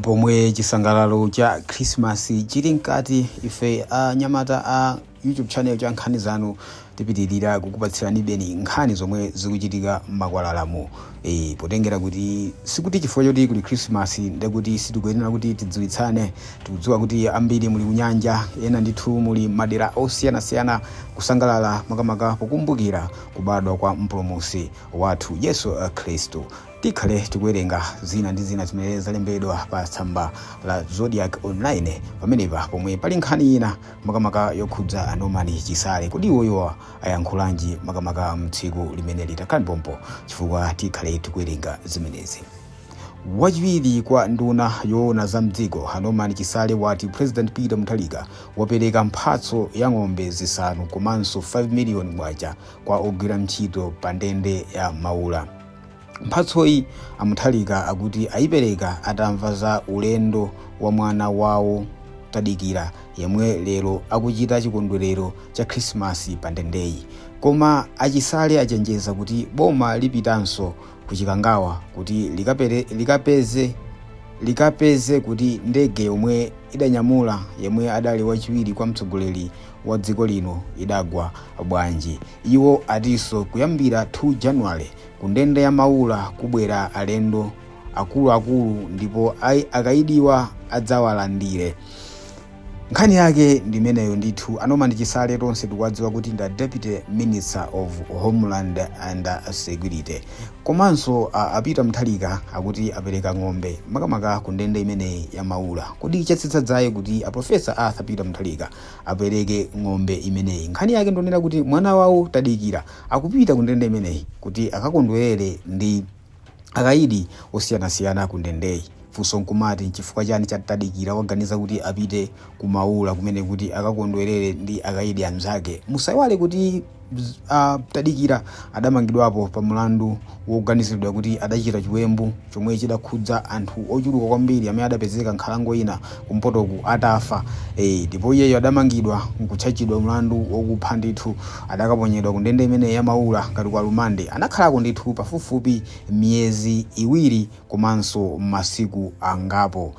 Pomwe chisangalalo cha Christmas chili mkati, ife anyamata a YouTube channel cha Nkhani Zanu tipitilira kukupatsiranibeni nkhani zomwe zikuchitika mmakwalalamu. Eeh potengera kuti sikuti chifukwa choti kuli Christmas ndekuti sitikuyenera kuti tidziwitsane, tikudziwa kuti ambiri muli kunyanja, ena ndithu muli mmadera osiyanasiyana kusangalala makamaka pokumbukira kubadwa kwa mpulumutsi wathu Yesu Khristu. Tikhale tikuwerenga zina ndi zina zimene zalembedwa pa tsamba la Zodiak Online pamenepa pomwe pali nkhani ina makamaka yokhudza a Norman Chisale. Kodi iwoyowa ayankhulanji makamaka mtsiku limene litakhale pompa chifukwa tikhale tikuwerenga zimenezi. Wachiwiri kwa nduna yoona za mdziko a Norman Chisale ati President Peter Mutharika wapereka mphatso ya ng'ombe zisanu komanso 5 million kwacha kwa ogwira ntchito pa ndende ya Maula. Mphatsoyi a Mutharika akuti ayipereka atamva za ulendo wa mwana wawo Tadikira yemwe lero akuchita chikondwerero cha Khrisimasi pa ndendeyi. Koma a Chisale achenjeza kuti boma lipitanso ku Chikangawa kuti likapeze, likapeze kuti ndege yomwe idanyamula yemwe adali wachiwiri kwa mtsogoleri wa dziko lino idagwa bwanji. Iwo atinso kuyambira 2 January kundende ya Maula kubwera alendo akuluakulu ndipo ai akaidiwa adzawalandire. Nkhani yake ndi imeneyo ndithu a Norman Chisale tonse tikuwadziwa kuti ndi a Deputy Minister of Homeland and Security. Komanso a Peter Mutharika akuti apereka ng'ombe makamaka kundende imeneyi ya Maula. Kodi chatsitsa dzaye kuti a Professor Arthur Peter Mutharika apereke ng'ombe imeneyi. Nkhani yake ndiyonena kuti mwana wawo Tadikira akupita kundende imeneyi kuti akakondwerere ndi akayidi osiyanasiyana kundendeyi. Funso nkumati nchifukwa chani cha Tadikira waganiza kuti apite ku Maula kumeneku kuti akakondwerere ndi akayidi amzake? Musaiwale kuti. a Tadikira adamangidwapo pa mlandu woganiziridwa kuti adachita chiwembu chomwe chidakhudza anthu ochuluka kwambiri amene adapezeka nkhalango ina kumpotoku atafa. Eee ndipo iyeyu adamangidwa nkutchajidwa mlandu wokupha ndithu. Adakaponyedwa kundende imeneyi ya Maula ngati ku alimande. Anakhalako ndithu pafupifupi miyezi iwiri komanso masiku angapo.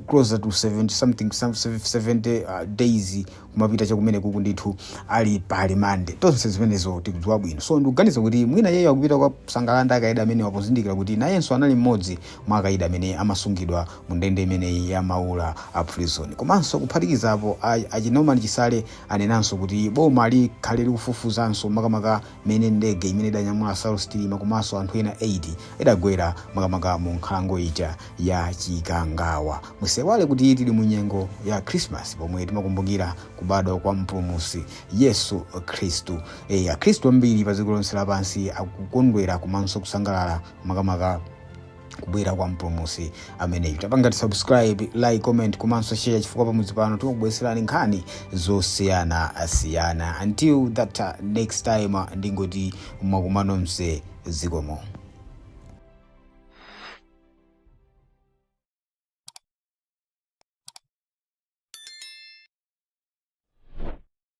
closer to 70 something 70 days. kumapita chakumenekuku ndithu ali pa limande tonse zimenezo tikudziwa bwino so ndikuganiza kuti mwina iyeyo akupita kukasangalala ndi akaidi amenewa pozindikira kuti nayenso anali mmodzi mwa akaidi amene amasungidwa mu ndende imeneyi ya maula a prison komanso kuphatikizapo a- a Norman Chisale anenanso kuti boma likhale likufufuzanso makamaka mmene ndege imene idanyamula Saulos Chilima komanso anthu ena 8 idagwera makamaka mu nkhalango ija ya Chikangawa. Musaiwale kuti tili mu nyengo ya Christmas pomwe timakumbukira kubadwa kwa Mpulumutsi Yesu Khristu. E, Akhristu ambiri pa dziko lonse lapansi akukondwera komanso kusangalala makamaka kubwera kwa mpulumutsi ameneyu tapangani subscribe like comment komanso share chifukwa pamudzi pano tikubweretserani nkhani zosiyanasiyana until that uh, next time uh, ndingoti mwakumanomse zikomo